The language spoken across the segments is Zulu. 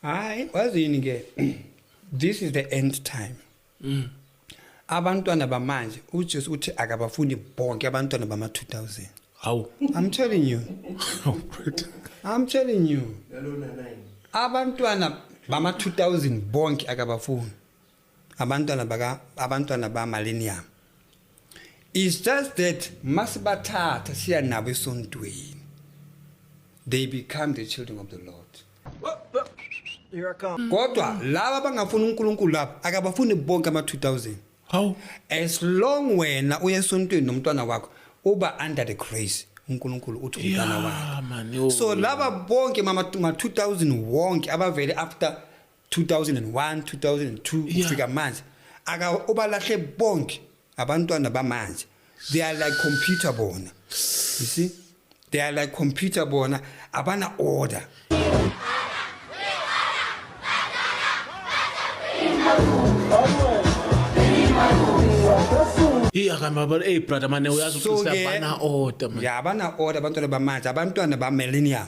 hayi wazini ke this is the end time mm. abantwana bamanje ujesu uthi akabafuni bonke abantwana bama-2000 hawu i'm telling you oh, i'm telling you abantwana bama-2000 bonke akabafuni abantwana baka abantwana ba millennium is just that masibathatha siya nabo esontweni they become the children of the lord kodwa laba abangafuni unkulunkulu laba akabafuni bonke ama-2000 hawu as long wena uya esontweni nomntwana wakho uba under the grace uNkulunkulu uthi umntana wakhe so laba bonke mama 2000 wonke abavele after 2001 2002 Yeah. ufika manje aka ubalahle bonke abantwana bamanje they are like computer bona you see they are like computer bona abana order iya kamabala ey brother mane uyazi So-ke- uqisa bana order man ya abana order abantwana bamanje abantwana ba millennium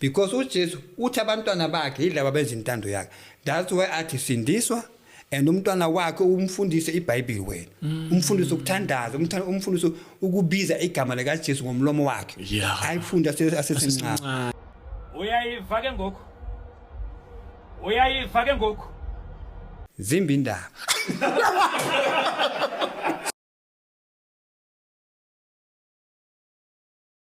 because uJesu uthi abantwana bakhe yilabo abenza intando yakhe that's why athi sindiswa and umntwana wakhe umfundise iBhayibheli wena mm. umfundise ukuthandaza umfundise ukubiza igama lika Jesu ngomlomo wakhe ayifunde asesencane uyayiva ke ngoku uyayiva ke ngoku zimbi indaba